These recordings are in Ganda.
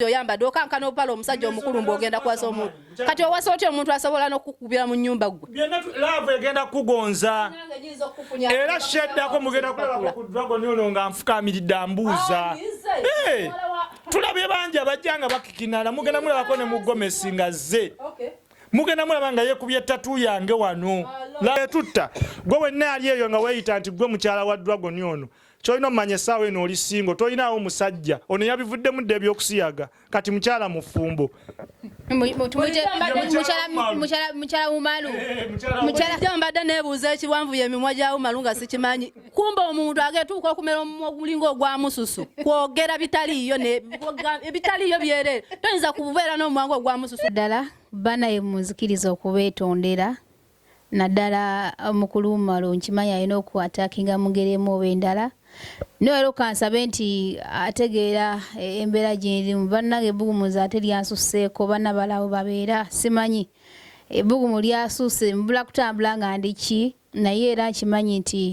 oyambadde okankana obupala omusajja omukulu mbu ogenda kuwasa omuntu kati owasa otya omuntu asobola n'okukubira mu nyumba gwe laavu egenda kukugonza era sheddako mugenda kulabako ku dragon ono nga nfukamiridde ambuuza tulabye bangi abajja nga bakikinala mugenda mulabako ne mugomesi nga zze mugenda mulaba nga yekubye tatu yange wano etutta gwe wenna ali eyo nga weyita nti gwe mukyala wa dragon ono kyolina omumanya esaawa eno oli singo tolinaawo musajja ono yabivuddemu dda ebyokusiyaga kati mukyala mufumbo mbadde nebuuza ekiwanvu yemimwa gya umalu nga sikimanyi kumba omuntu agetuuka okumera omumwa ogulinga ogwa mususu kwogera bitaliiyo ebitaliiyo byerere toyinza kubeera n'omumwa nga ogwa mususu ddala banaye munzikiriza okubeetondera naddala mukulu Umaru nkimanyi alina oku atakinga mu ngeri emu oba endala naye era okansabe nti ategeera e, embeera gyerimu bannange ebbugumuza ate lyansusseeko banna balawo babeera simanyi ebbugumu lyasuuse mbula kutambula nga ndiki naye era nkimanyi nti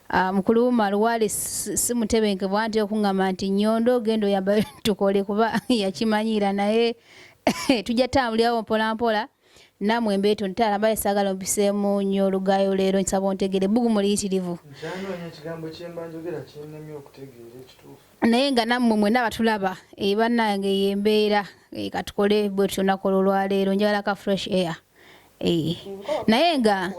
Ah, mukulu wumalu wali simutebenke bwanti okungamba nti nyondo ogenda oyamba tukole kuba yakimanyiira naye tujja tambulirawo mpolampola namwe mbeeto ntaala mbaye saagala ompiseemu nnyo olugaayo leero nsaba ontegeere ebbugumu liyitirivu naye nga nammwe mwena abatulaba eh, bannange eyo embeera eh, katukole bwe tutyo nakola olwaleero njagala ka fresh air eh, naye nga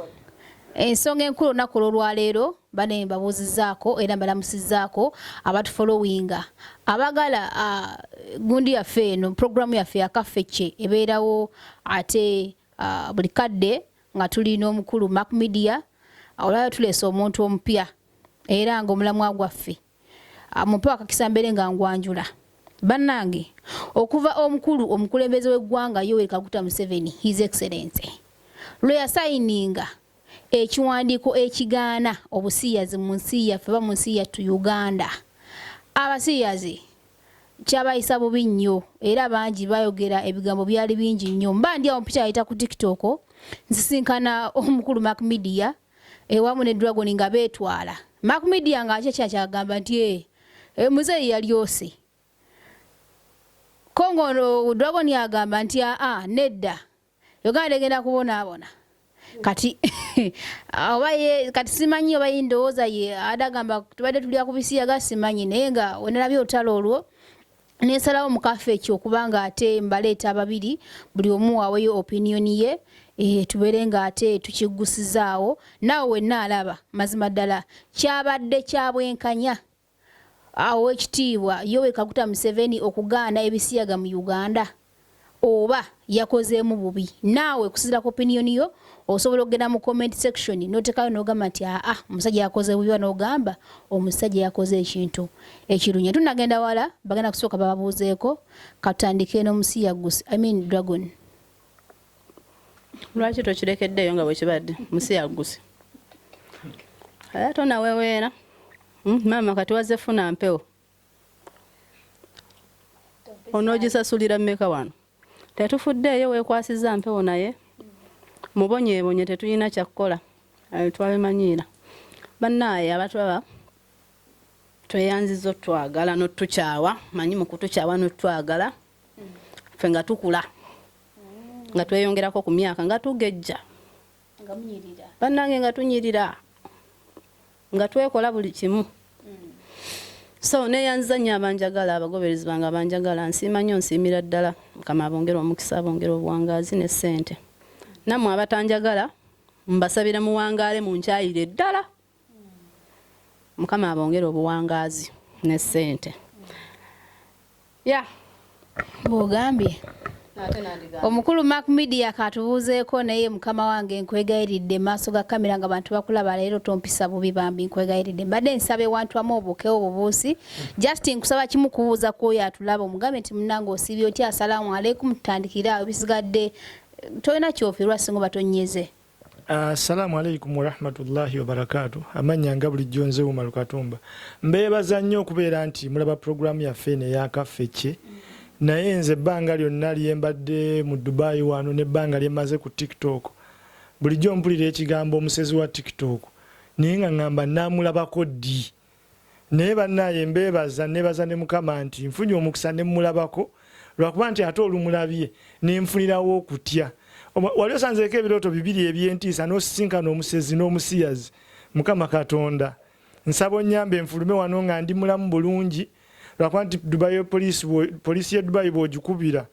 ensonga enkulu olunaku olwolwaleero Bane mbabuuzizaako era mbalamusizaako abatufolowinga abagala uh, gundi yaffe eno programu yaffe yakafecce ebeerawo ate uh, buli kadde nga tuli n'omukulu mac media olwaleo tuleese omuntu omupya era nga omulamwa gwaffe mumpewo akakisa mbeere nga ngwanjula bannange okuva omukulu omukulembeze w'eggwanga yoweri kaguta museveni his excellency lwe yasayininga ekiwandiiko ekigaana obusiyazi mu nsi yaffe oba mu nsi yattu uganda abasiyazi kyabayisa bubi nnyo era bangi bayogera ebigambo byali bingi nnyo mba ndi awo mpita yayita ku tiktok nsisinkana omukulu mac media ewamu ne dragon nga betwala Mac Media nga akye kyachagamba nti eh, eh muzeyi yalyose Kongo ono Dragon yagamba nti aa ah, ah, nedda Uganda egenda kubonaabona kati oba ye kati simanyi oba ye ndowooza ye adagamba tubadde tulya ku bisiyaga simanyi naye nga wenalabye olutalo olwo nensalawo mukafe ekyo okuba nga ate mbaleeta babiri buli omu waweyo opinion ye e, tubeere nga ate tukiggusizaawo naawe wenna alaba mazima ddala kyabadde kya bwenkanya awo ekitiibwa yowe kaguta museveni okugaana ebisiyaga mu uganda oba yakozeemu bubi naawe kusizira ku opinion yo osobola okugenda mu comment section notekayo nogamba nti aa omusajja yakoze bubi oba nogamba omusajja yakoze ekintu ekirunya tunagenda wala bagenda kusooka bababuuzeeko katandike nomusiyagusi i mean dragon lwaki tokirekeddeeyo nga bwekibadde musiyagusi ate onaweweera hmm, maama kati wazze funa mpewo onoogisasulira mmeka wano tetufuddeeyo weekwasiza mpewo naye mubonyeebonye tetulina kyakukola twabimanyiira bannaaye abatulaba tweyanziza otwagala notukyawa manyi mukutukyawa notwagala fe nga tukula nga tweyongerako ku myaka nga tugejja bannange nga tunyirira nga twekola buli kimu so neyanziza nnyo abanjagala abagoberezi bange abanjagala nsiima nnyo nsiimira ddala mukama abongere omukisa abongere obuwangaazi ne ssente nammwe abatanjagala mbasabira muwangaale mu nkyayire ddala mukama abongere obuwangaazi ne ssente ya bwogambye omukulu mak media katubuuzeeko naye mukama wange nkwegayiridde maaso ga kamera nga bantu bakulaba leero tompisa bubi bambi nkwegayiridde mbadde nsaba ewantu amu obuukewo obubuusi just nkusaba kimu kubuuza kwoyo atulaba omugambe nti munange osiibye otya asalamu aleikum tutandikire awo bisigadde tolina kyofirwa singa oba tonyeze Assalamu alaikum warahmatullahi wabarakatu amanya nga bulijjo nze Umar Katumba mbeebaza nnyo okubeera nti mulaba puroguramu yaffe eno eyakaffekye naye nze ebbanga lyonna lyembadde mu Dubai wano nebbanga lyemaze ku tiktok bulijjo mpulira ekigambo omusezi wa tiktok naye nga ngamba namulabako ddi Naye banaye mbebaza nebaza ne mukama nti nfunye omukisa nemulabako lwakuba nti ate olumulabye nenfunirawo okutya wali osanzeko ebiroto bibiri ebyentiisa nosisinkana omusezi nomusiyazi mukama katonda nsaba onyambe nfulume wano nga ndi mulamu bulungi lwakuba nti dubai police police ye dubai bwojikubira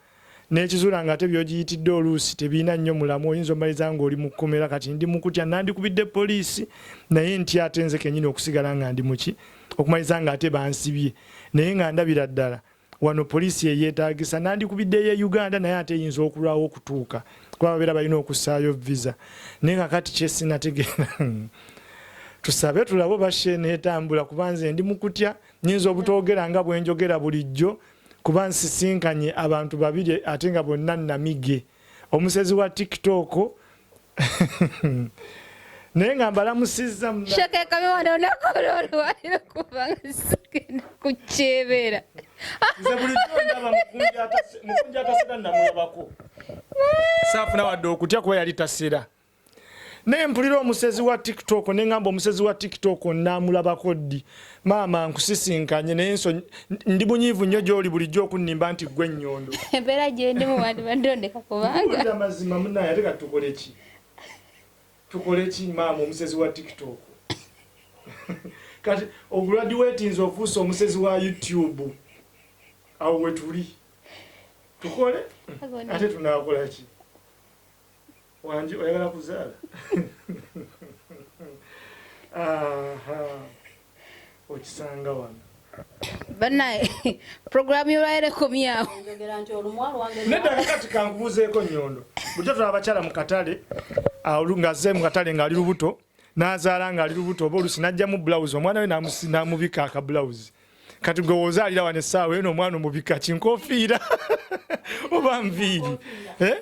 N'ekizula nga ate by'ogiyitidde oluusi tebirina nnyo mulamwa, oyinza omaliriza ng'oli mu kkomera. Kati ndi mu kutya, nnandikubidde poliisi naye ntya ate nze kennyini okusigala nga ndi mu ki, okumaliriza nga ate bansibye naye nga ndabira ddala wano poliisi ye yeetaagisa. Nnandikubidde ey'e Uganda naye ate eyinza okulwawo okutuuka kuba babeera balina okussaayo viza. Naye kakati kye sinategeera tusabe tulabe oba show eneetambula kuba nze ndi mu kutya, nnyinza obutoogera nga bwe njogera bulijjo. kuba nsisinkanye abantu babiri ate nga bonna namige omusezi wa tiktok naye nga mbalamusizza kukyebera saafuna wadde okutya kuba yali tasera naye mpulira omusezi wa tiktok nengamba omusezi wa tiktok namulabako ddi maama nkusisinkanye naye nso ndi munyiivu nnyo gyoli bulijjo okunnimba nti gwe ennyondo embeera gyendimu wandibadde ondeka kubanga mazima munaye ate kati tukoleki tukoleki maama omusezi wa tiktok kati oguladiweti nze ofuuse omusezi wa youtube awo wetuli tukole ate tunakolaki Wanji oyagala kuzaala? okisanga wano banaye program yolwalero ekomyawo nedda kakati kankubuzeeko nyondo bujo tula abakyala mu katale ngazze mu katale ng'ali lubuto n'azaala ng'ali lubuto oba olusi n'ajjamu bulawuzi omwana we n'amubika akabulawuzi kati gwe wozaalira wano essaawa eno omwana omubika kinkofiira oba nviiri eh?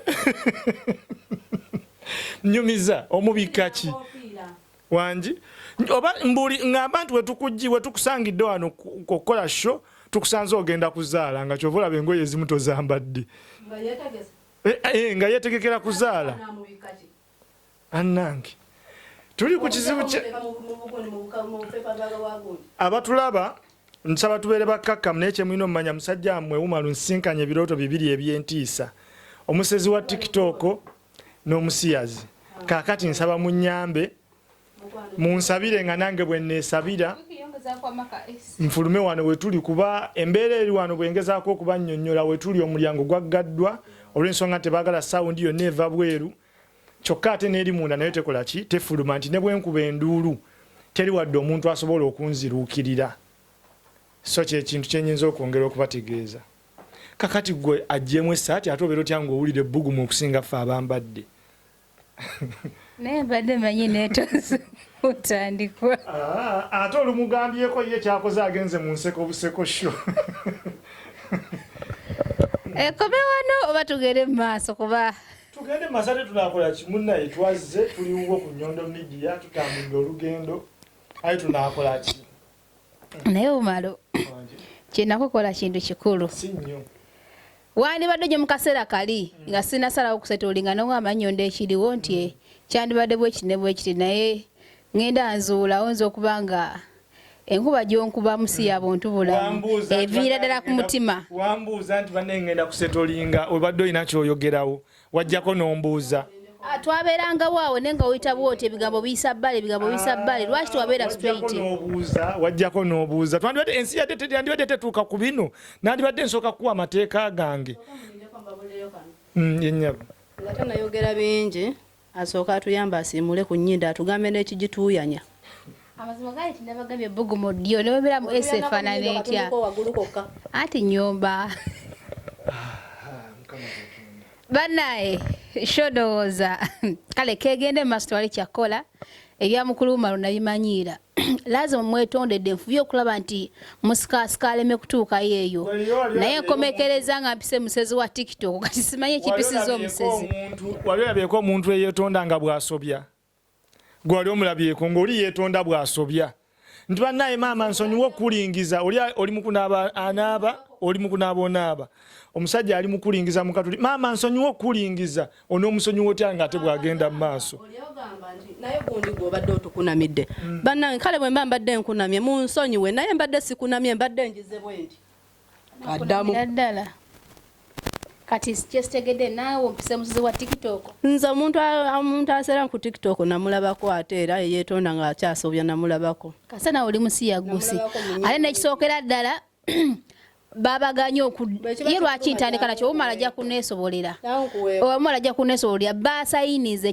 nyumiza omubika ki wangi oba mbuli ngamba nti wetukujji wetukusangidde wano okukola sho tukusanze ogenda kuzaala nga kyova olaba engoye ezimu tozambadde nga yetegekera eh, eh, kuzaala Banange tuli ku kizibu kye abatulaba nsaba tubeere bakkakkamu naye kyemulina omumanya musajja mmwe wumalu nsinkanye ebirooto bibiri ebyentiisa omusezi wa tiktok n'omusiyazi kakati nsaba munyambe munsabire nga nange bwenneesabira nfulume wano wetuli kuba embeera eri wano bwengezaako okubannyonnyola wetuli omulyango gwaggaddwa olw'ensonga nti baagala sawundi yonna eva bweru kyokka ate n'eri munda nayo tekola ki tefuluma nti ne bwenkuba enduulu teri wadde omuntu asobola okunziruukirira so kyekintu kyenyinza okwongera okubategeeza kakati gwe ajjemu esaati ate obeera otya ngaowulira ebbugumu okusinga ffe abambadde naye mbadde manyi netonze otandikwa ah, ate olumugambyeko ye kyakoze agenze mu nseko buseko sho ekome eh, wano oba tugende mu maaso kuba tugende mu maaso ate tunakola kimunaye twazze tuliwo ku nyondo midiya tutambulira olugendo aye tunakola ki naye omalo kyenakukola kintu kikulu wandibadde gye mukaseera kali nga mm. sinasalawo kusetolinga nowa amanyondo ekiriwo nti mm. eh, kyandibadde bwekiti ne bwekiti naye ngenda nzuulawo nza okuba nga enkuba gyonkuba musi mm. ya buntu bulamu eviira ddala ku mutima wambuuza nti banne ngenda kusetolinga obadde olina kyoyogerawo wajjako nombuuza ah, twabeerangawo awo ne nga oyita bwoti ebigambo biyisa bbale ebigambo biyisa bbale lwaki tewabeera straightobuuza wajjako n'obuuza twandibadde ensi yandibadde tetuuka ku bino nandibadde nsooka kukuwa amateeka gange mm, yenyabo nga tanayogera bingi asooka atuyamba asiimule ku nyindo atugambe n'ekigituuyanya amazima gali tinabagambye ebbugumu ddyo ne webeera mu esi efaanana etya anti nyumba banaye shodowooza kale kegende mu maaso tewali kyakkola ebya mukulu umaru nabimanyiira lazima mwetondedde nfubye okulaba nti musikaasika aleme kutuukayo eyo naye nkomekereza nga mpise musezi wa tiktok kati simanyi ekipisiza omusezi wali olabyeko omuntu eyetonda nga bwasobya gwe wali omulabyeko ng'oli yeetonda bw'asobya nti bannaye maama nsonyiwa okukulingiza oli oli mukunaaba anaaba oli mukunaaba onaaba omusajja ali mukulingiza mukatuli maama nsonyiwa okukulingiza onoomusonyiwa otya nga ate bw'agenda mu maaso naye gundi gwobadde otukunamidde hmm. bannange kale bwe mba mbadde nkunamye mu nsonyiwe naye mbadde sikunamye mbadde ngize bwenti addamu ddala kati kyesitegedde naawe ompise muzizi wa tiktok nze omuntu omuntu aseera ku tiktok namulabako ate era yeetonda nga akyasobya namulabako kase nawe oli musiyagusi ate nekisookera ddala babaganye okuye lwaki ntandika nakyo omala ajja kuneesobolera omala ajja kuneesobolera baasayinize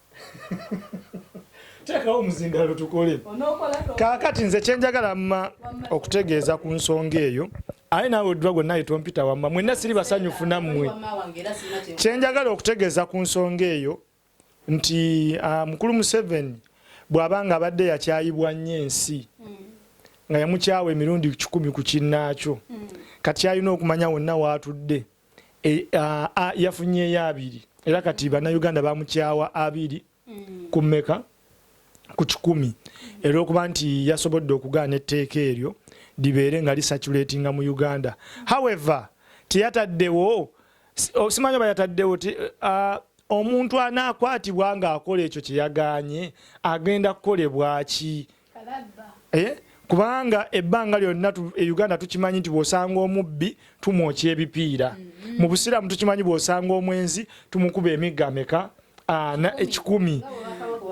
teekawo omuzindalo tukole kaakati nze kyenjagala mma okutegeeza ku nsonga eyo aye naawe oddwa gwe naye tompita wamma mwenna siri basanyufu nammwe kyenjagala okutegeeza ku nsonga eyo nti ah, mukulu museveni bw'aba nga abadde yakyayibwa nnyo ensi hmm. nga yamukyawa emirundi kikumi ku kinnaakyo hmm. kati alina okumanya wonna waatudde e, a, a, yafunyeyo abiri era kati bannayuganda bamukyawa abiri mm. ku mmeka ku kikumi era okuba nti yasobodde okugaana etteeka eryo libeere nga lisaculatinga mu uganda however teyataddewo oh, simanyi oba yataddewo uh, omuntu anaakwatibwa ng'akola ekyo kye yagaanye agenda kukolebwaki eh? kubanga ebbanga lyonna e uganda tukimanyi nti bwosanga omubbi tumwokya ebipiira mm-hmm. mu busiraamu tukimanyi bwosanga omwenzi tumukuba emigga meka ana ekikumi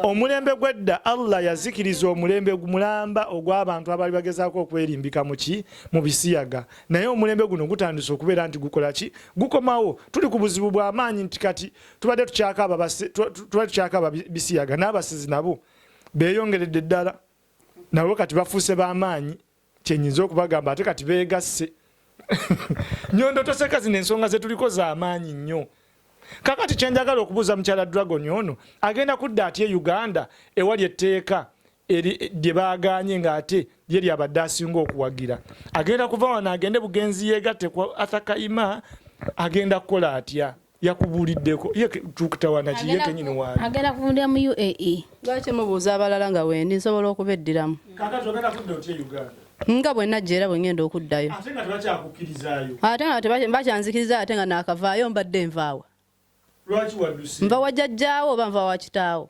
omulembe gwedda allah yazikiriza omulembe mulamba ogw'abantu abaali bagezaako okwerimbika muki mu bisiyaga naye omulembe guno gutandise okubeera nti gukola ki gukomawo tuli ku buzibu bw'amaanyi nti kati tubadde tukyakaaba bisiyaga n'abasizi nabo beyongeredde ddala nabo kati bafuuse bamaanyi kyenyinza okubagamba ate kati begasse nyondo toseka zino ensonga zetuliko zamaanyi nnyo kakati kyenjagala okubuuza mukyala dragon ono agenda kudda atya e uganda ewali etteeka lye baganye ngaate ye lyabadde asinga okuwagira agenda kuva wano agende bugenzi yegatte ku athakaima agenda kukola atya yakubuuliddeko ye tukitawana ki ye kenyini waali agenda kuvundira mu uae lwaki mubuuza abalala nga wendi nsobola okubeddiramu kakati ogenda kudda otya e uganda nga bwe najja era bwe ngenda okuddayo ate nga tebakyakukkirizayo ate nga tebakyanzikiriza ate nga naakavaayo mbadde nvaawa lwaki wadduse nva wajjajjaawo oba nva wakitaawo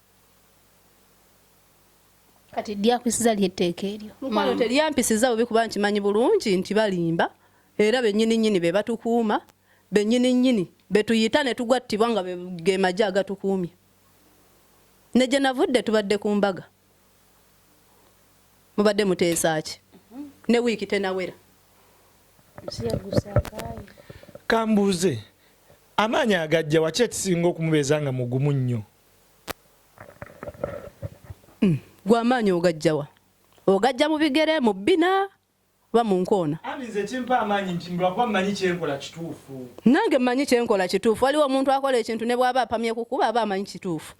kati lyakwisiza lyetteeka eryo mukwano teryampisiza bubi kuba nkimanyi bulungi nti balimba era benyini nyini be batukuuma benyini nyini betuyita ne tugwattibwa nga ge maje agatukuumye ne gye navudde tubadde ku mbaga mubadde muteesaaki ne wiiki tenawera kambuuze amaanyi agajja waki ekisinga okumubeeza nga mugumu nnyo Hmm. gwe amaanyi ogajjawa ogajja mu bigere mu bbina oba mu nkoona nange mmanyi kyenkola kituufu waliwo omuntu akola ekintu ne bw'aba apamye ku kuba aba amanyi kituufu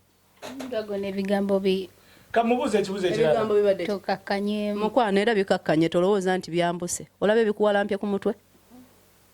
mukwano era bikakkanye tolowooza nti byambuse olaba ebikuwalampye ku mutwe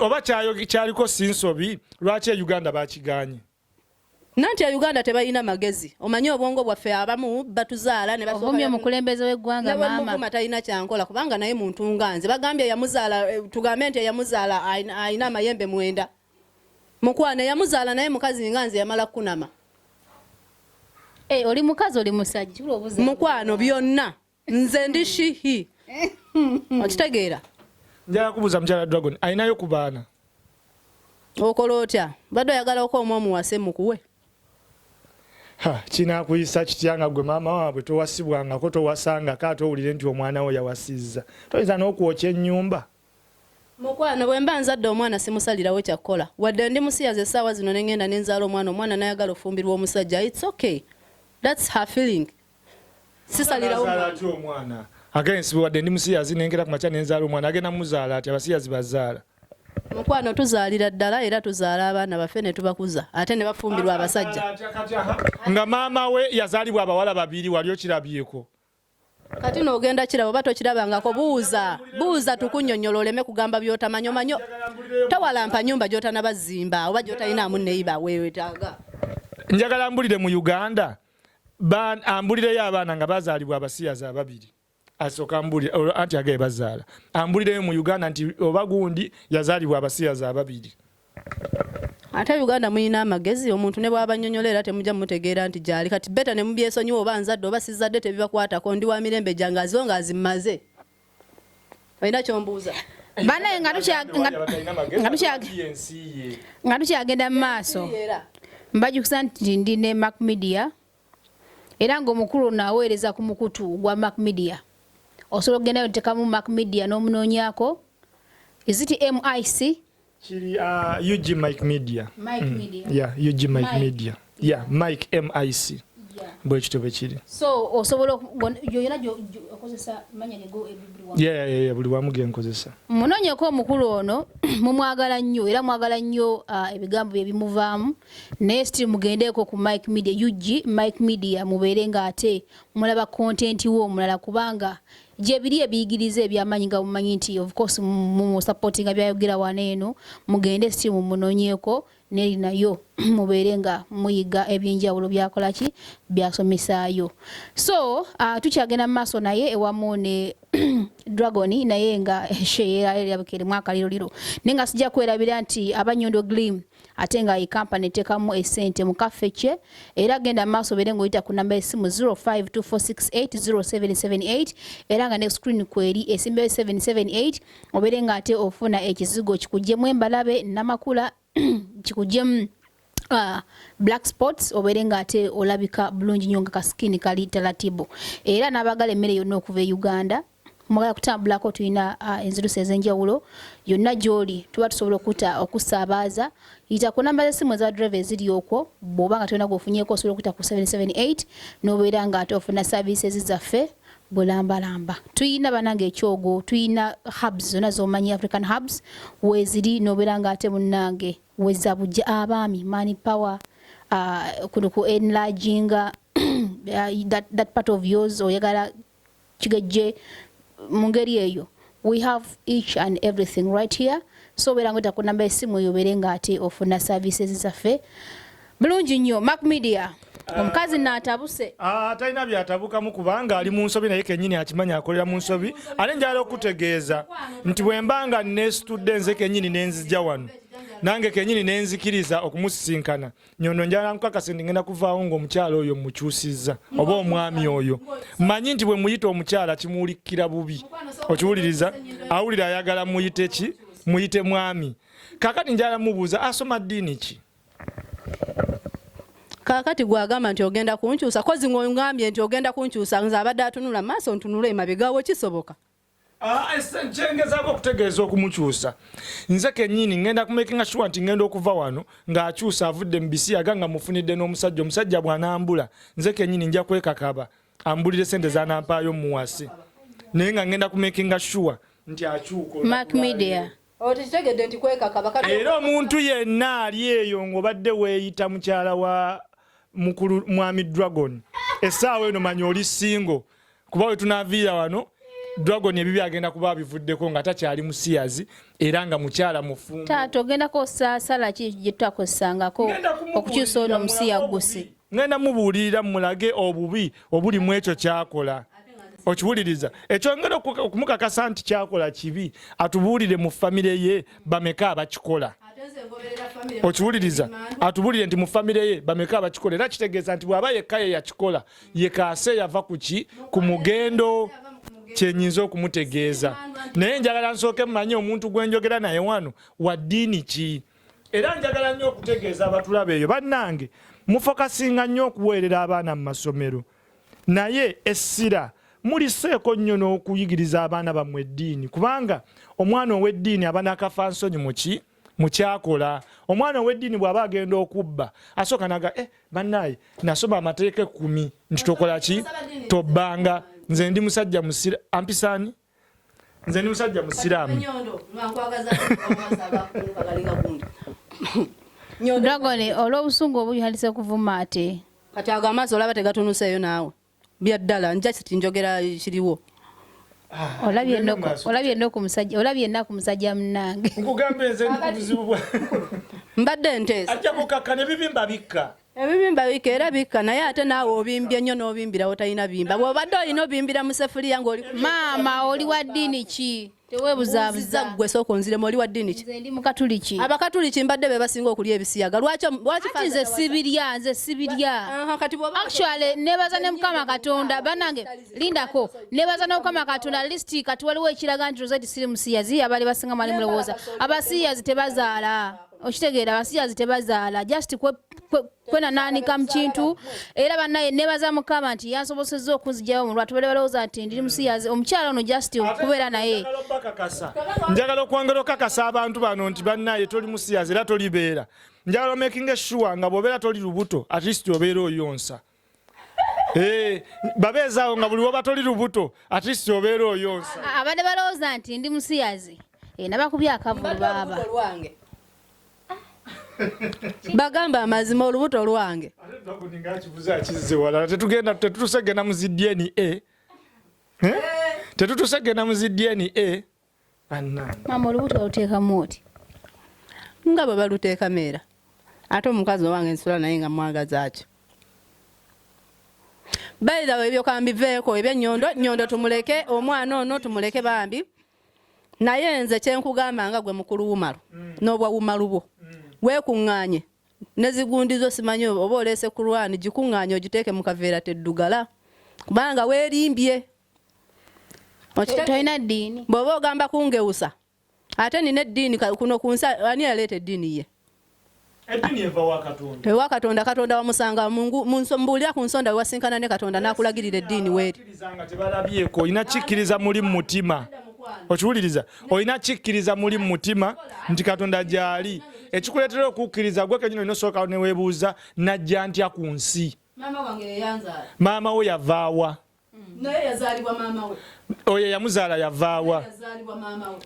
oba kyaliko sinsobi lwaki e uganda bakiganye nanti e uganda tebalina magezi omanyi obwongo bwaffe abamu batuzaala nebaomye omukulembeze weggwanga mama talina kyankola kubanga naye muntu nga nze bagambye yamuzaala eh, tugambe nti eyamuzaala alina amayembe mwenda mukwana eyamuzaala naye mukazi nga nze yamala kukunama eh, oli mukazi oli musajja mukwano byonna nze ndi shihi okitegeera njala kubuza mjala dragon alinayo ku baana okola otya badde oyagala oka omu omuwase mukuwe kinakuyisa kitya nga gwe maama waabwe towasibwangako towasangako ate owulire nti omwana wo yawasizza toyinza n'okwokya ennyumba mukwano bwe mba nzadde omwana simusalirawo kyakukola wadde ndi musiyaza essaawa zino ne ngenda ne nzaala omwana omwana nayagala ofumbirwa omusajja its okay thats her feeling sisalirawo mwana ati omwana agensi wadde ndi musiyazi nengera ku makya nenzaala omwana agenda muzaala ati abasiyazi bazaala mukwano tuzaalira ddala era tuzaala abaana baffe ne tubakuza ate ne bafumbirwa abasajja nga maama we yazaalibwa abawala babiri wali okirabyeko kati nogenda kirabo oba tokirabangako buuza buuza tukunyonyola oleme kugamba byotamanyi omanyo tawalampa nyumba gyotanabazimba oba gyotalinaamu neyiba wewetaaga njagala mbulire mu uganda ambulireyo abaana nga bazaalibwa abasiyazi ababiri asooka ambulira olwo anti agaye bazaala ambulireyo mu uganda nti oba gundi yazaalibwa abasiyazi ababiri ate uganda mulina amagezi omuntu ne bwaba nyonyola era temujja mutegeera nti gyali kati beta ne mubyesonyiwa oba nzadde oba sizadde tebibakwatako ndi wa mirembe gyange aziwo nga azimaze olina kyombuuza banaye nga tukyagenda mu maaso mbajukiza nti ndi ne mac media era ngaomukulu ono aweereza ku mukutu gwa mac media osobola okugendayo ntekamu mac media n'omunoonyako iziti mic Kiri uh, UG Mike Media. Mike mm. Media. Yeah, UG Mike, Mike. Media. Yeah, Mike MIC. Yeah. Bwe kityo bwe kiri. So osobola yoyona okozesa manya ne go everyone. Yeah, yeah, yeah, yeah, buli wamu ge nkozesa. Munonyeko omukulu ono mumwagala nnyo era mwagala nnyo uh, ebigambo bye bimuvaamu naye still mugendeeko ku Mike Media UG Mike Media mubeere nga ate mulaba content wo omulala kubanga gyebiri ebiyigiriza ebyamanyi nga mumanyi nti of course mumusupportinga byayogera wana eno mugende si mumunonyeko neri nayo mubeere nga muyiga ebyenjawulo byakolaki byasomesaayo so uh, tukyagenda mu maaso naye ewamu ne dragon naye nga sheera erabika erimu akaliroliro naye nga sijja kwerabira nti abanyondo glim ate nga yi company tekamu esente mukaffe kye era genda maaso bere ngoyita ku namba esimu 0524680778 era nga ne screen kweri esimbe 778 obere nga ate ofuna ekizigo kikujemu embalabe namakula kikujemu Uh, black spots obere nga ate olabika bulungi nyo nga kasikini kali talatibu era nabagala emmere yonna okuva e uganda mwagala kutambulako tulina enzirusi ez'enjawulo yonna gy'oli tuba tusobola okuta okusaabaaza yita ku namba z'essimu eza driva eziri okwo bw'oba nga tolina gwofunyeeko osobola okuta ku 778 n'obeera ng'ate ofuna saaviisi zaffe bulambalamba tuyina banange ekyogo tuyina hubs zona zomanyi african hubs weziri nobera nga ate munange weza bujja abaami money power uh, kuno ku enlarginga uh, that, that part of yours oyagala kigejje mu ngeri eyo we have each and everything right here so obeera nga ku namba esimu eyo obeere nga ate ofuna services zaffe bulungi nnyo mac media ah. omukazi naatabuse ah, talina byatabukamu kubanga ali mu nsobi naye kenyini akimanyi akolera mu nsobi ate njala okutegeeza nti bwe mba nga nesitudde nze kenyini nenzija wano nange kenyini nenzikiriza okumusisinkana nyondo njala nkukakase ndi ngenda kuvaawo ng'omukyala oyo mukyusizza oba omwami oyo manyi nti bwe muyita omukyala kimuwulikira bubi okiwuliriza awulira ayagala muyite ki muyite mwami kakati njala mubuuza asoma ddiini ki kakati gwagamba nti ogenda kunkyusa kozi ng'ongambye nti ogenda kunkyusa nze abadde atunula maaso ntunula emabegawo kisoboka Ah, kyengezaako okutegeeza okumukyusa nze kenyini ngenda kumakinga sure nti ngenda okuva wano ng'akyusa avudde mu bisiyaga nga mufunidde n'omusajja omusajja bw'anambula nze kenyini nja kwekakaba ambulire sente zanampaayo muwase naye nga ngenda kumakinga sure nti akyuka Awo tekitegedde nti kwekaka bakati. Era omuntu yenna ali eyo ng'obadde weeyita mukyala wa mukulu mwami Dragon, essaawa eno manya oli singo kuba we tunaaviira wano Dragon ebibi agenda kuba abivuddeko nga takyali musiyazi era nga mukyala mufumbo. Taata ogendako osaasala ki gye tutakozesangako okukyusa ono omusiyaguzi. ŋŋenda mubuulirira mmulage obubi obuli mu ekyo kyakola okiwuliriza ekyongera okumukakasa nti kyakola kibi atubuulire mu famire ye bameka abakikola okiwuliriza atubuulire nti mu famire ye bameka abakikola era kitegeeza nti bw'aba yekka ye yakikola yekaase yava ku ki ku mugendo kyenyinza okumutegeeza naye njagala nsooke mumanye omuntu gwenjogera naye wano wa ddiini ki Era njagala nnyo okutegeeza abatulaba eyo bannange mufokasinga nnyo okuweerera abaana mu masomero naye essira muliseeko nnyo n'okuyigiriza abaana bammwe eddiini kubanga omwana ow'eddiini aba nakafa nsonyi muki mukyakola omwana ow'eddiini bw'aba agenda okubba asooka naga e eh, bannaaye nasoma amateeka ekkumi nti tokola ki tobbanga nze ndi musajja musira ampisaani nze ndi musajja musiraamu dogole olw'obusungu obuli halise kuvuma ate kati ago amaaso olaba tegatunuseeyo naawe bya ddala njasti njogera kiriwo ah, olabye enaku musajja munange mbadde nteesa ajja kukakka ne bibimba bikka Ebibimba bika era bikka naye ate naawe obimbye nnyo n'obimbira wotalina bimba bw'obadde olina obimbira mu sefuliya ng'oli maama oli wa ddiini ki teweebuzaabuza ggwe sooka onziremu oli wa ddiini ki nze ndi mukatuliki abakatuliki mbadde be basinga okulya ebisiyaga lwaki lwaki kati nze sibirya nze sibirya Aha, kati bw'oba actually nebaza ne mukama katonda banange lindako nebaza ne mukama katonda listi kati waliwo ekiraga nti rosette siri musiyazi abali basinga mwali mulowooza abasiyazi tebazaala okitegeera abasiyazi tebazaala just kwenanaanika mu kintu era banaye nebaza mukama nti yansobosezza okunzijayo mu lwatu bali balowooza nti ndiri musiyazi omukyala ono just okubeera naye njagala okwongera okakasa abantu bano nti banaye toli musiyazi era tolibeera njagala omakinga essuwa nga bwobeera toli lubuto at least obeera oyonsa Eh, babeezaawo nga buli woba toli lubuto at least obeera oyonsa abadde balowooza nti ndi musiyazi eh, nabakubye akavulu baaba bagamba amazima olubuto lwange tetugenda tetutusegena mu zi dna eh? tetutusegena mu zi dna maama olubuto waluteekamu oti nga bwe baluteekamu era ate omukazi owange nsula naye nga mwagazaaki bayidawe ebyo kambiveeko ebyenyondo nyondo tumuleke omwana ono tumuleke bambi naye nze kyenkugamba nga gwe mukulu wumalu mm. n'obwa wumalu bwo mm. weekuŋŋaanye nezigundizo simanyi oba oleese kurwani gikuŋŋaanye ogiteeke mu kaveera teddugala kubanga weerimbye tolina ddiini bw'oba ogamba kungewusa ate nina eddiini kuno ku nsi ani yaleeta eddiini ye ewa katonda katonda wamusanga mbuulira ku nsonda wewasinkana ne katonda n'akulagirira eddiini weerialabyeko olina kikkiriza muli mu mutima okiwuliriza olina kikkiriza muli mu mutima nti katonda gyali ekikuleetera okukkiriza gwe kenyini olina osooka neweebuuza najja ntya ku nsi maama wo yavaawa naye yazaalibwa maama we oyo eyamuzaala yavaawa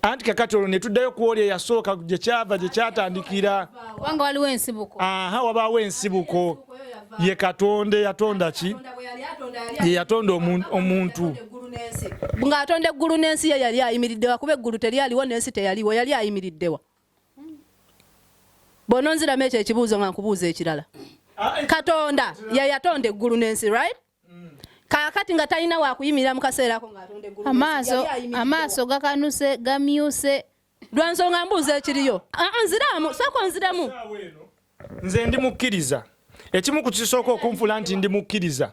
anti kakati olwo netuddayo kuoli eyasooka gyekyava gyekyatandikira kubanga waliwo ensibuko aha wabaawo ensibuko ye katonda eyatonda ki yeyatonda omuntu ng'atonda eggulu n'ensi ye yali ayimiriddewa kuba eggulu teryaliwo n'ensi teyaliwo yali ayimiriddewa bwononziramu ekyo ekibuuzo nga nkubuuza ekirala ah, eh. katonda yeyatonda eggulu n'ensi right kakati nga talina wakuyimirira mu kaseera ako ng'atonda eggulu amaaso amaaso gakanuse gamyuse lwa nsonga mbuuza ekiriyo ah, ah, nziramu sooka onziramu nze ndi mukkiriza ekimu ku kisooka okunfula nti ndi mukkiriza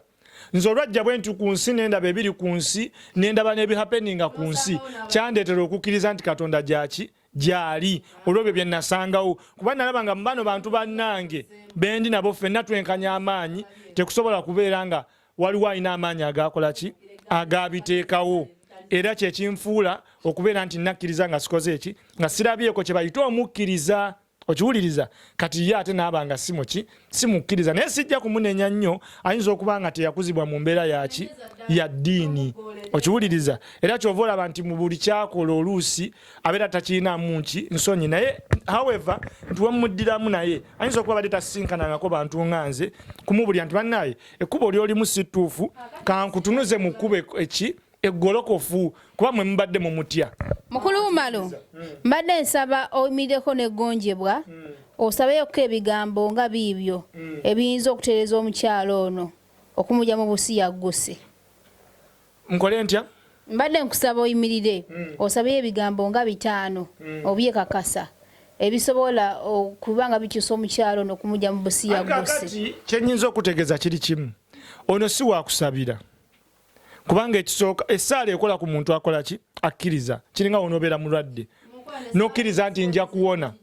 nze olwajja bwe nti ku nsi nendaba ebiri ku nsi nendaba n'ebihapeninga ku nsi kyandeetera okukkiriza nti katonda gyaki gyali olwebyo bye nasangawo kuba nalaba nga mubano bantu bannange bendi nabo ffenna twenkanya amaanyi tekusobola kubeera nga waliwo alina amaanyi agakola ki agabiteekawo era kyekinfuula okubeera nti nakkiriza nga sikoze eki nga sirabyeko kyebayita omukkiriza okiwuliriza kati ye ate naaba nga si muki simukkiriza naye sijja kumunenya nnyo ayinza okuba nga teyakuzibwa mu mbeera yaki ya ddiini okiwuliriza era kyova olaba nti mu buli kyakola oluusi abeera takirinamu nki nsonyi naye however nti wemuddiramu naye ayinza okuba badde tasisinkanangako bantu nga nze kumubulira nti bannaye ekkuba oli olimu situufu kankutunuze mu kkuba eki eggolokofu kuba mwe mubadde mumutya mukulu wumalo hmm. mbadde nsaba oyimireko negonjebwa hmm. osabeyoko ebigambo nga biibyo hmm. ebiyinza okutereza omukyalo ono okumuja mu busiya guse nkole ntya mbadde nkusaba oyimirire osabeyo ebigambo nga bitaano obyekakasa ebisobola okuba nga bikyusa omukyalo ono okumuja mu busiya guse kyenyinza okutegeza kiri kimu ono si wakusabira kubanga ekisooka essaala ekola ku muntu akola ki akkiriza kiringa wonobeera mulwadde nokkiriza nti nja kuwona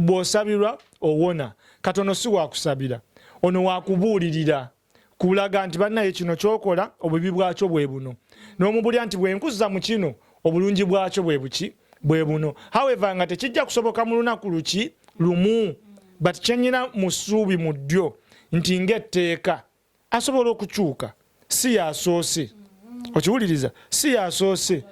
bw'osabirwa owona katono si wakusabira ono wakubuulirira kulaga nti bannaye kino kyokola obubi bwakyo bwe buno n'omubulya nti bwenkuzza mu kino obulungi bwakyo bwe buki bwe buno however nga tekijja kusoboka mu lunaku luki lumu but kyenyina mu ssuubi mu ddyo nti ng'etteeka asobola okukyuka si yasoose okiwuliriza si yasoose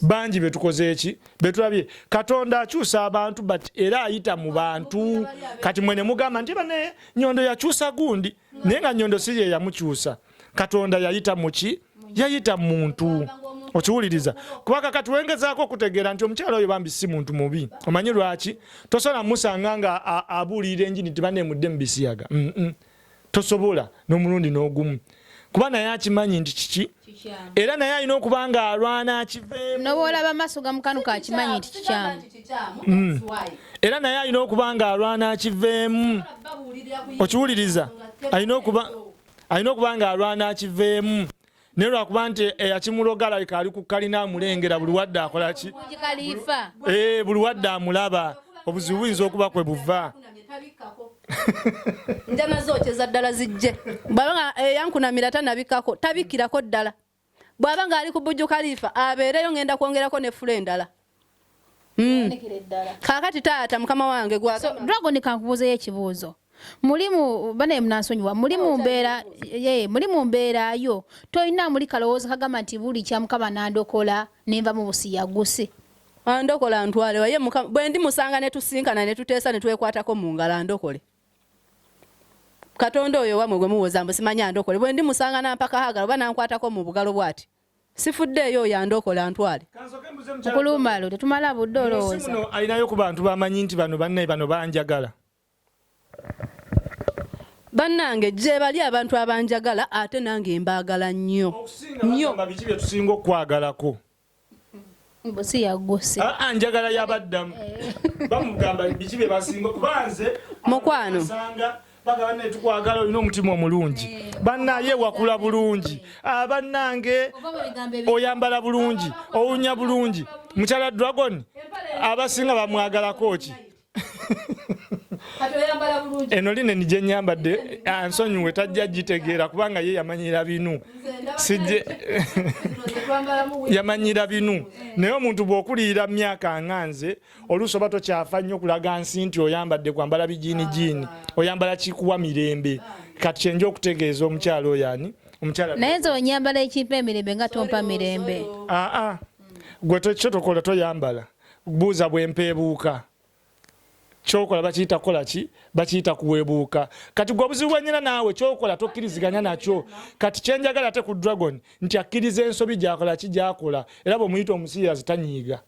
bangi betukoze eki betulabye katonda akyusa abantu but era ayita mu bantu kati mwe ne mugamba nti bane nyondo yakyusa gundi naye nga nyondo si ye yamukyusa katonda yayita muki yayita muntu okiwuliriza kuba kakati wengezaako okutegeera nti omukyalo oyo bambi si muntu mubi omanyi lwaki tosobola musanga nga abuulirira enjini tibaneemudde mu bisiyaga mm -mm. tosobola n'omulundi n'ogumu kuba naye akimanyi nti kiki era naye alina okuba nga alwana akiveemunobaolaba amaaso gamukanuka akimanyi nti kikyamu mm. era naye alina okuba nga alwana akiveemu okiwuliriza alina okuba nga alwana akiveemu naye lwakuba nti eyakimuloga alabika ali ku kalina amulengera buli wadde akola ki eh, buli wadde amulaba obuzibu buyinza okuba kwe buva njama zokyeza ddala zijje bwaba nga eyankunamira eh, tanabikkako tabikkirako ddala bwaba nga ali ku bujju kaliifa abeereyo ngenda kwongerako ne fula endala mm. kakati taata mukama wange gwa so, dragon kankubuuzeyo ekibuuzo mulimu banaye munansonyiwa muli mu mbeera ye muli mu mbeera yo tolina muli kalowoozo kagamba nti buli kyamukaba nandokola nenva mu busiyaguse andokola ah, ntwale waye bwe ndi musanga ne tusinkana ne tuteesa ne twekwatako mu ngalo andokole katonda oyo wamwe gwe muwoza mbu simanyi andokole bwe ndi musanga nampaka hagala oba nankwatako mu bugalo bwati sifuddeeyo oyo andokola antwale okulumalo tetumala budde olowooza alinayo ku bantu bamanyi nti bano bannaye bano banjagala bannange gyebali abantu abanjagala ate nange mbaagala nnyo nnyo biki byetusinga okukwagalako mbu si yagguse aa ah, ah, njagala yabaddamu eh. bamugamba biki bye basinga kuba nze mukwano nsanga bagaba ne tukwagala olina omutima omulungi eh. bannaye wakula bulungi abannange ah, oyambala bulungi owunya bulungi mukyala dragon abasinga bamwagalako ki eno lineni gyenyambadde ah, nsonyiwe tajja gitegeera kubanga ye yamanyira binu sijje yamanyira binu eh. naye omuntu bwokuliyira myaka nga nze oluusi oba tokyafa nnyo okulaga nsi nti oyambadde kwambala bijiini ah. jiini oyambala kikuwa mirembe ah. kati kyenja okutegeeza omukyalo oyo ani omukyala naye nze onyambala ekimpa emirembe nga tompa mirembe aa gwe kyotokola toyambala buuza bwempeebuuka kyokola bakiyita kukola ki bakiyita kuweebuuka kati gwe obuzibu bwenyina naawe kyokola tokkiriziganya nakyo kati kyenjagala ate ku dragon nti akkiriza ensobi gyakola ki gyakola era bwemuyita omusiyazi tanyiiga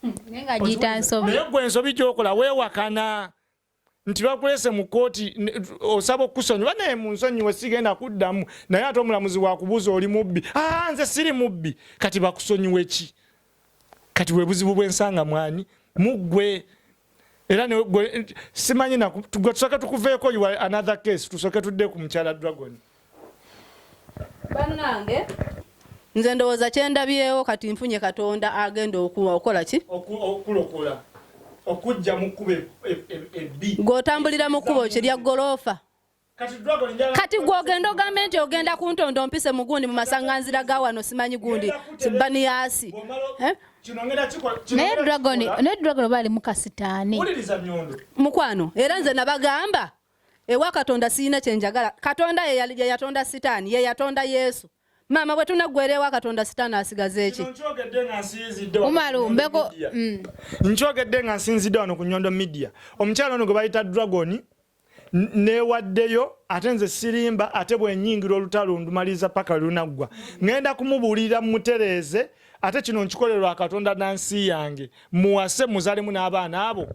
hmm, naye gwe ensobi gyokola weewakana nti bakulese mu kkooti osaba okukusonyiwa naye munsonyiwe sigenda kuddamu naye ate omulamuzi wakubuuza oli mubbi aa nze siri mubbi kati bakusonyiwe ki kati webuzibu bwensanga mwani muggwe era simanyi tusooke tukuveeko another case tusooke tudde ku mukyala dragon banange nze ndowooza kyendabyewo kati nfunye katonda agenda okuwa okola ki okulokola okujja mu kkubo ebbi e, e, gw'otambulira mu kkubo kirya goloofa kati gwogenda ogambe nti ogenda kuntonda ompise mugundi mu masanganzira ga wano simanyi gundi baniyasi eh? naye dragon naye dragon oba alimu kasitaani mukwano era nze nabagamba ewa katonda siyina kyenjagala katonda yeyatonda sitaani yeyatonda yesu maama bwe tunaggwera ewa katonda sitaani asigaza eki umaru mbeko mm. nkyogedde nga nsinzidde wano ku nyondo midia omukyalo ono gwe bayita dragoni newaddeyo ate nze sirimba ate bwenyingira olutalo ndumaliriza paka lunaggwa ŋenda kumubuulira mumutereeze ate kino nkikole lwa katonda na nsi yange muwase muzalemu n'abaana abo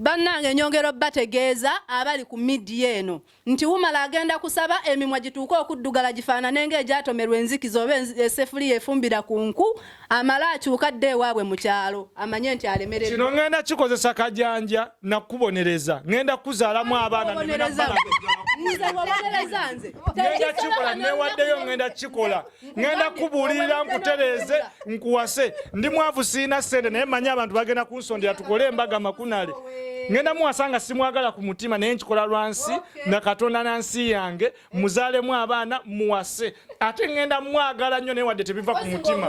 bannange nyongera obategeeza abali ku midiya eno nti wumala agenda kusaba emimwa gituuke okuddugala gifaanane ng'egyatomerwa enzikiza oba esefuliya efumbira ku nku amala akyuka dde ewaabwe mu kyalo amanye nti alemerera kino ngenda kikozesa kajanja nakubonereza ngenda kuzaalamu abaana nze wabonereza nze ngenda kikola newaddeyo ngenda kikola ŋenda kubuulirira nkutereeze nkuwase ndi mwavu siina ssente naye manya abantu bagenda kunsondera tukole embaga makunale ŋenda muwasa nga simwagala ku mutima naye nkikola lwansi na katonda na nsi yange muzaalemu abaana muwase ate ŋenda mwagala nnyo naye wadde tebiva ku mutima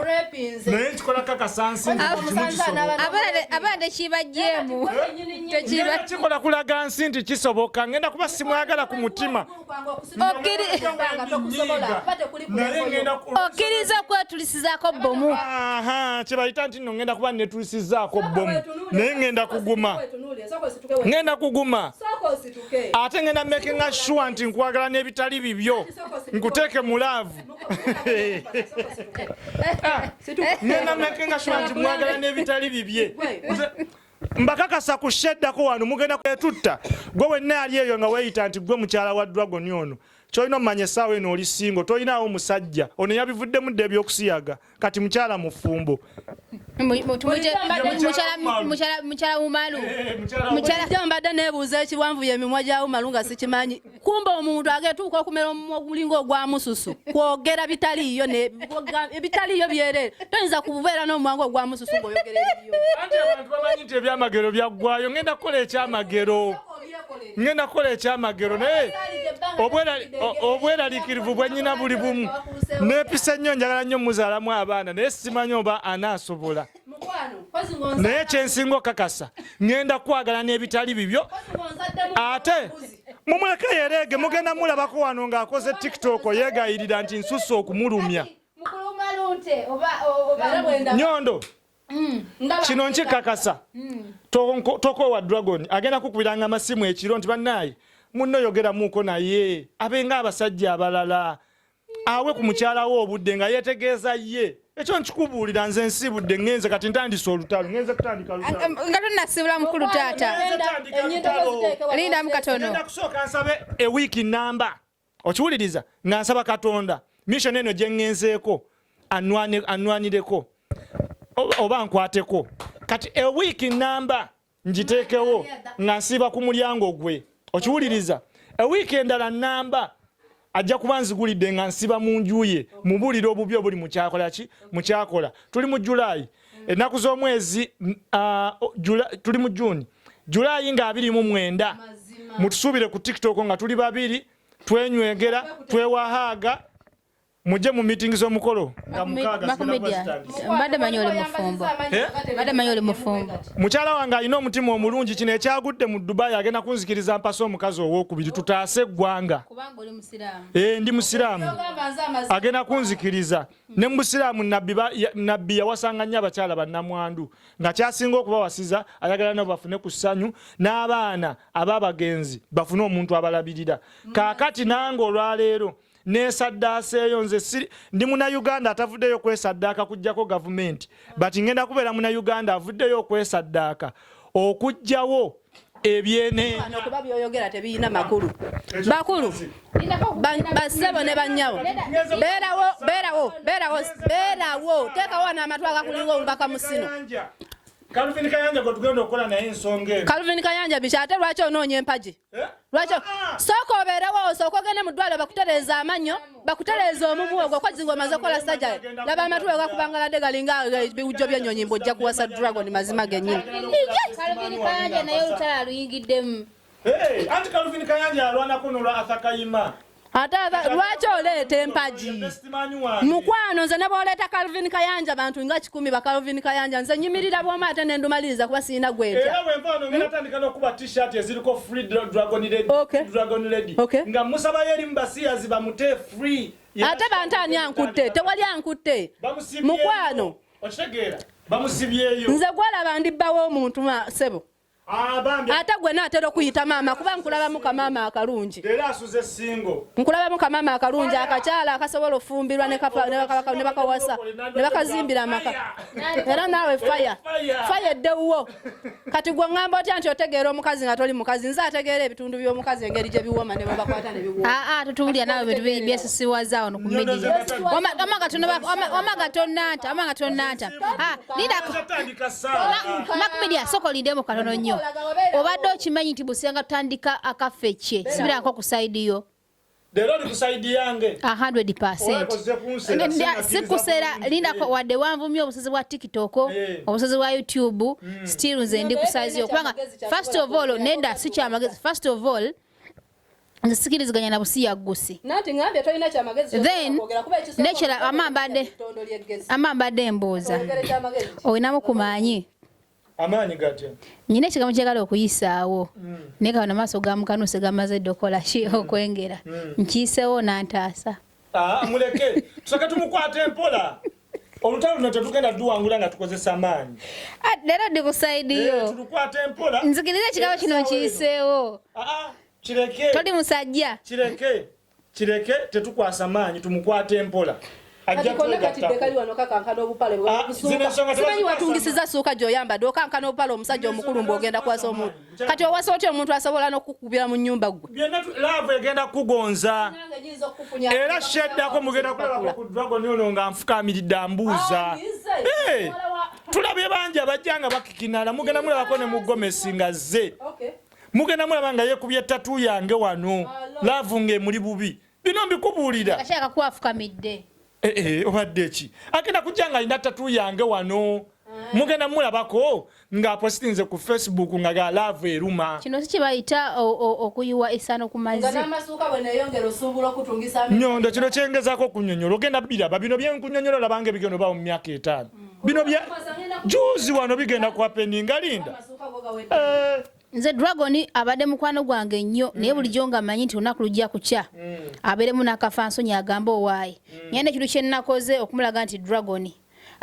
naye nkikola kakasansiabadde kibajjeemu kikola kulaga nsi nti kisoboka ŋenda kuba simwagala ku mutima okkiriza okwetulisizaako bbomu kyebayita nti no ngenda kuba netulisizaako bbomu naye ngenda kuguma ngenda kuguma ate ngenda makinga sure nti nkwagala n'ebitali bibyo nkuteeke mu laavu ngenda makinga sure nti mwagala n'ebitali bibye mbakakasa ku sheddako wano mugenda kwetutta gwe wenna yali eyo nga weyita nti gwe mukyala wa dragon ono kyolina omumanya esaawa eno oli singo tolinaawo musajja ono yabivuddemu dda ebyokusiyaga kati mukyala mufumbo mukyala wumalu mbadde nebuuza ekiwanvu yemimwa gya wumalu nga sikimanyi kumba omuntu agetuuka okumera omumwa ogulinga ogwa mususu kwogera bitaliiyo ebitaliiyo byerere toyinza kububeera n'omumwangu ogwa mususu ngaoyogera ebiyoanti abantu bamanyi nti ebyamagero byaggwayo ngenda kukola ekyamagero ngenda kukola ekyamagero naye obweralikirivu bwenyina buli bumu nepisa nnyo njagala nnyo muzaalamu abaana naye simanyi oba anaasobola naye kyensinga okakasa ngenda kwagala n'ebitali bibyo ate mumweka yereege mugenda mulabako wano ng'akoze tiktok yegayirira nti nsusa okumulumya nyondo mm, kino nkikakasa mm. tokowa dragon agenda kukubiranga amasimu ekiro nti bannaaye munno yogeramuuko naye abenga abasajja abalala awe ku mukyala we obudde nga yetegeeza ye ekyo nkikubuulira nze nsiibudde ngenze kati ntandise olutalo ngenze kutandika nga tonasiibula mukulu taata lindamu katono kusooka nsabe ewiiki namba okiwuliriza nga nsaba katonda mission eno gye ngenzeeko anwanireko oba nkwateko kati ewiiki namba ngiteekewo nga nsiiba ku mulyango gwe okiwuliriza ewiiki endala namba ajja kuba nzigulidde nga nsiba mu nju ye mubuulire obubi obuli mukyakola ki mukyakola tuli mu julayi ennaku z'omwezi tuli mu juni julayi nga abiri mu mwenda mutusuubire ku tiktok nga tuli babiri twenywegera twewahaaga mujje mu meeting z'omukolo nga mukaaga mbadde manyi oli mufumbo eh? mbadde manyi oli mufumbo mukyala wange alina omutima omulungi kino ekyagudde mu dubai agenda kunzikiriza mpase omukazi owokubiri tutaase eggwanga eh, ndi musiraamu agenda kunzikiriza ne mu busiraamu nabbi yawasanga nnyo abakyala bannamwandu nga kyasinga okubawasiza ayagala nabo bafune ku ssanyu n'abaana ab'abagenzi bafune omuntu abalabirira kaakati nange olwaleero mm. nesaddaaseeyo nze siri ndi munauganda atavuddeyo okwesaddaaka kujjako gavumenti but ngenda kubeera munauganda avuddeyo okwesaddaaka okujjawo ebyeneekuba byoyogera tebiyina makulu bakulu basebo ne banyawo beerawo beerawo beerawo beerawo teekawo n'amatu agakulinga omubaka musino kalvin kayanja gwe tugenda okukola naye ensonga eno kalvin kayanja biki ate lwaki onoonya empagi Eh? lwaki ah! sooka obeerewo osooka ogende mu ddwaliro bakutereeza amannyo bakutereeza omumu ogwo kozi ng'omaze okukola sajja laba amatu we gakubangaladde galinga eh, biwujjo by'ennyonyi mbu ojja kuwasa dragon mazima gennyini anti kaluvini kayanja alwanako nolwa athakayima ate lwaki oleeta empagi mukwano nze ne bwoleeta calvin kayanja bantu nga kikumi ba calvin kayanja nze nyimirira bwomu ate nendumaliriza kuba sirina gwetya nga musabayo erimu basiyazi bamute free ate bantu ani ankutte tewali ankutte mukwano nze gwalaba ndibbawo omuntu sebo Ah, ate gwe naatera okuyita maama kuba nkulabamu kamaama akalungi nkulabamu kamaama akalungi akakyala akasobola ofumbirwa nebakawasa nebakazimbira amaka era naawe faya faya eddewuwo kati gwe ŋŋamba otya nti otegeera omukazi nga toli mukazi nze ategeera ebitundu by'omukazi engeri gye biwoma ne bwebakwata ne biwoma ah, ah, tutuwulira naawe bintu byesisiwaza ono ku midiya omagatonaata omagatonaata Lidako. Makumedia soko lidemo katono nnyo. Obadde okimanyi nti busenga tutandika akaffe kye. Sibirako ku side yo. Lero ni ku side yange. 100%. Sikusera linda kwa wade wanvumye obusozi bwa TikTok, eh. obusozi bwa YouTube, mm. still nze ndi ku size yo. Kubanga first of all nenda si kya magezi. First of all nze sikiriziganya na busi yaggusi nekira ama mbadde mbuuza olinamu ku maanyi nyina ekigambo kyagala okuyisaawo mm. naye kabona maaso gamukanuse gamaze dda okola ki mm. okwengera mm. nkiyiseewo nantaasa Ah, muleke tusake tumukwate mpola olutalo luno tetugenda duwangula nga tukozesa amaanyi ah, leero ndi kusaidiyo eh, tulukwate mpola nzikiriza ekigabo kino nkiyiseewo ah, kireke toli musajja kireke kireke tetukwasa maanyi tumukwate mpola zinensonga tebasimanyi watungisiza suuka gyoyambadde okankana obupale omusajja omukulu mbu ogenda kwasa omuntu kati owasa otya omuntu asobola nokukubira mu nyumba gwe laavu egenda kukugonza era sheddako mugenda kulabako ku dragon ono nga nfukamiridde ambuuza tulabye bangi abajja nga bakikinala mugenda mulabako ne mugomesi nga zze mugenda mulaba nga yekubye tatu yange wano laavu nga emuli bubi bino mbikubuulira eh, eh, obadde ki agenda kujja nga alina tatu yange wano mugenda mulabako ng'apositinze ku facebook nga ga laavu eruma kino si kyebayita okuyiwa esano ku mazinyondo kino kyengezako okunyonyola ogenda biraba bino byenkunyonyola olabanga ebigendo bawo mu myaka etaano bino bya juzi wano bigenda kuhapeninga linda nze dragon abadde mukwano gwange nnyo mm. naye bulijjo nga manyi nti olunaku lujja kukya mm. abeeremu n'akafa nsonyi agamba owaayi mm. nyenda ekintu kye nnakoze okumulaga nti dragon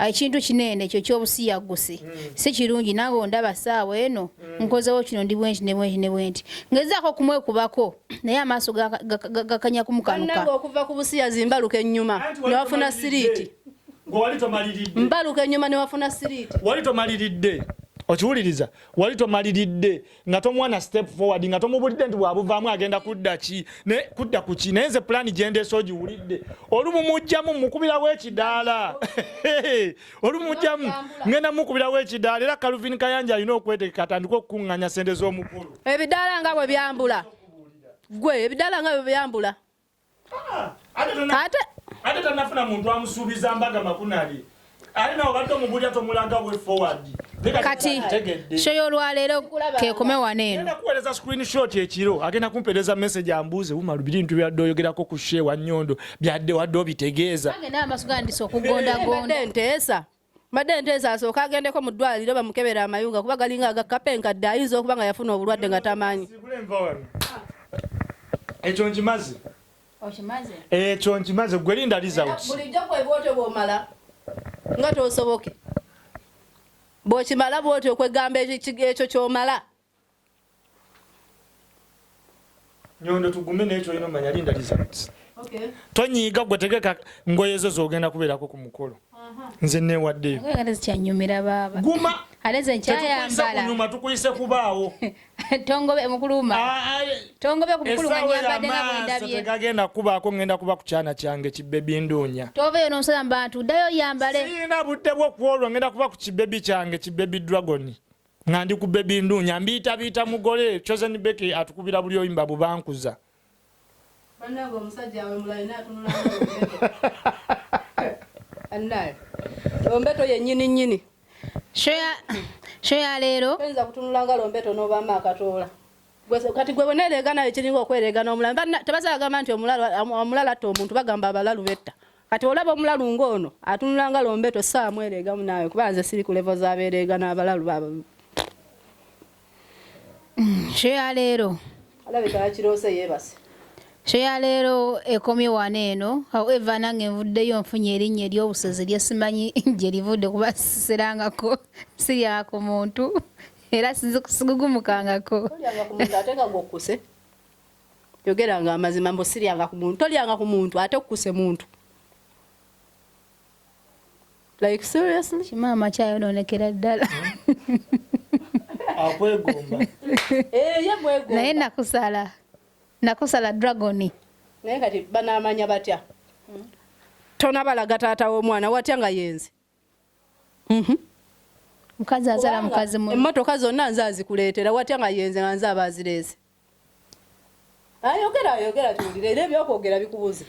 ekintu kinene ekyo ky'obusiyaggusi mm. si kirungi nange ondaba saawa eno mm. nkozewo kino ndi bwenti ne bwenti ne bwenti ngezaako okumwekubako naye amaaso gakanya kumukanuka okuva ku busiyazi mbaluka ennyuma newafuna siriiti mbaluka ennyuma newafuna siriiti wali tomaliridde okiwuliriza wali tomaliridde nga tomwana step forward nga tomubulidde nti bwabuvaamu agenda kudda ki naye kudda ku ki naye nze pulaani gyendeesa ogiwulidde olumumujjamu mukubirawo ekidaala olumujjamu ngenda mukubirawo ekidaala era kaluvin kayanja alina okwetegeka atandika okukuŋŋanya sente z'omukulu ebidaala nga bwe byambula gwe ebidaala nga bwe byambula ate ate tanafuna muntu amusuubiza mbaga makunali ali nawo badde omubulya tomulaga we forward kati shoyo olwaleero kekome wano eno agenda kuweereza screenshot ekiro agenda kumpeereza message ambuuze wuma lubiri ntu byadde oyogerako ku shewa nyondo byadde wadde obitegeeza agenda amaso gandisa okugondagonda nteesa mbadde nteesa asooka agendeko mu ddwaliro bamukebera amayunga kuba galinga agakapa enkadde ayinza okuba nga yafuna obulwadde nga tamanyi ekyo nkimaze ekyo nkimaze gwe linda lizabulijjo kwebwotyo bwomala nga tosoboke bwokimala bwotyo okwegamba ekyo kyomala nyondo tugume naye kyolina omanya linda results tonyiiga gwe tegeka ngoye ezo zogenda kubeerako ku mukolo nze newaddeyo guma tetukuisekunyuma tukuyise kubaawo tegagenda kubaako ngenda kuba ku kyana kyange kibebi nduunya sirina budde bwokuolwo ngenda kuba ku kibebi kyange kibebi dragoni nga ndi ku bebi ndunya mbiitabiita mugole chosen becky atukubira buli oyimba bubankuza banange omusajja awe mulayi natunula annaye lombeto yenyini nyini sho ya leero oyinza kutunula nga lombeto n'obaamu akatoola kati gwe bweneereega nayo kiringa okwereega n'omulala tebasala gamba nti omulala atta omuntu bagamba abalalu betta Kati olaba omulalu ng'ono atunula nga lombeto ssaawa mwereegamu naawe kuba nze siri ku levo z'abeereega n'abalalu baba mm, sho ya leero alabika yakiroose yeebase sho ya leero ekomye wano eno however nange nvuddeyo nfunye erinnya ery'obusozi lye simanyi gye livudde kuba siserangako sirya ku muntu era sigugumukangako yogeranga amazima mbu siryanga ku muntu tolyanga ku muntu ate okukuse muntu like seriously kimaama kyayonoonekera ddala akwegomba eh, naye nakusala nakusala dragoni naye kati banamanya batya tonabalaga taata w'omwana watya nga yenze Mhm. Mm mukazi azala mukazi mu emmotoka zonna nze azikuleetera watya nga yenze nga nze aba azireese ayogera ayogera tuwulire era ebyokwogera bikubuza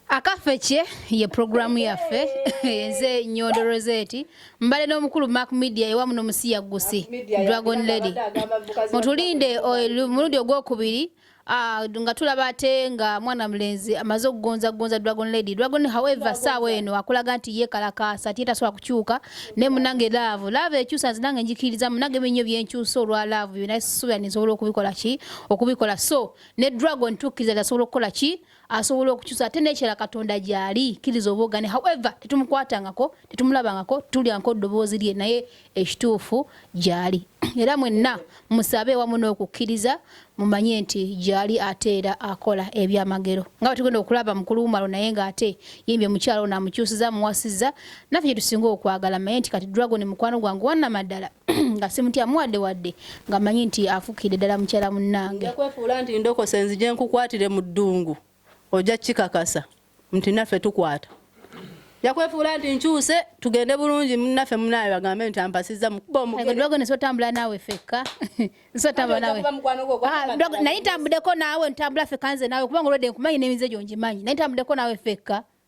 akaffe kye ye puroguramu yaffe enze nyondo roseti mbale n'omukulu mak media ewa muno musiya gusi dragon lady mutulinde omulundi ogwokubiri Ah, nga tulaba ate nga mwana mulenzi amaze okugonza gonza dragon lady dragon however saawa eno akulaga nti yekalakaasa ti tasobola kukyuka naye munange laavu laavu ekyusa nze nange njikiriza munange binyo byenkyusa olwa laavu byona suubira ninsobola okubikola ki okubikola so ne dragon tukkiriza tasobola okukola ki asobola okukyusa ate nekyala katonda gyali kiriza obogane however tetumukwatangako tetumulabangako tulyanko ddoboozi lye naye ekituufu gyali era mwenna musabe ewamu n'okukkiriza mumanye nti gyali ate era akola ebyamagero nga batugenda okulaba mukulu wumalo naye ng'ate yimbye mukyalo namukyusiza muwasiza naffe gyetusinga okwagala manye nti kati dragon mukwano gwange wanamaddala nga simutya muwadde wadde nga manyi nti afukidde ddala mukyala munnange kwefuula nti ndokose nzije nkukwatire mu ddungu ojja kikakasa nti naffe tukwata yakwefuula nti nkyuse tugende bulungi munaffe munaye bagambe nti ampasiza mukubaomugedwagonesotambula naawe fekka nsotambula nawe ah, naye ntambudeko naawe ntambula fekka nze naawe kubanga olwedde nkumanyi n'emize gyo ngimanyi naye ntambudeko naawe fekka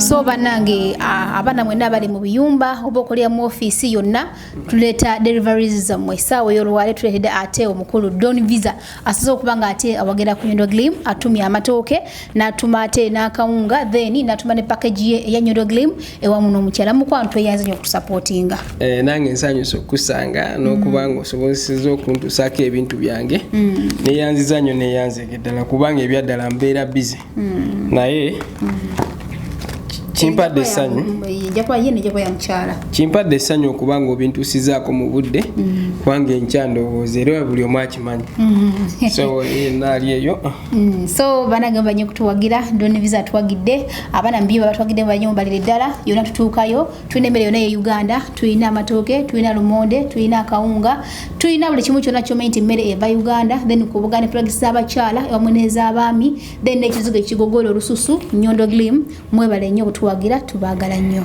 so banange abaana mwena abali mu biyumba oba okolera mu ofiisi yonna tuleeta deliveries zammwe esaawa eyolwale tuleetedde ate omukulu don visa asoza okuba nga ate awagera ku nyondo glim atumya amatooke natuma ate n'akawunga then natuma ne package ye eya nyondo glim ewamu n'omukyala mukwano tweyanze nyo okutusapootinga eh, nange nsanyusa okukusanga n'okuba nga osobozeseza okuntusaako ebintu byange mm. neyanziza nyo neyanzege ddala kubanga ebyaddala mbeera bize mm. naye mm. kimpadde essanyu kimpadde essanyu okuba nga obintusizaako mu budde mm. kubanga enkya ndowooza era buli omu akimanyi mm. so eh, naali eyo mm. so banagamba nyo kutuwagira doniviza atuwagidde abaana mubiyo babatwagidde mu banyumba liri ddala yona tutuukayo tulina emmere yona ye uganda tulina amatooke tulina lumonde tulina akawunga tulina buli kimu kyona kyomanyi nti emmere eva uganda then kubuga ne pragisi z'abakyala ewamu n'ez'abaami then n'ekizigo ekigogoola olususu nyondo glim mwebale nnyo okutuwagira tubaagala nnyo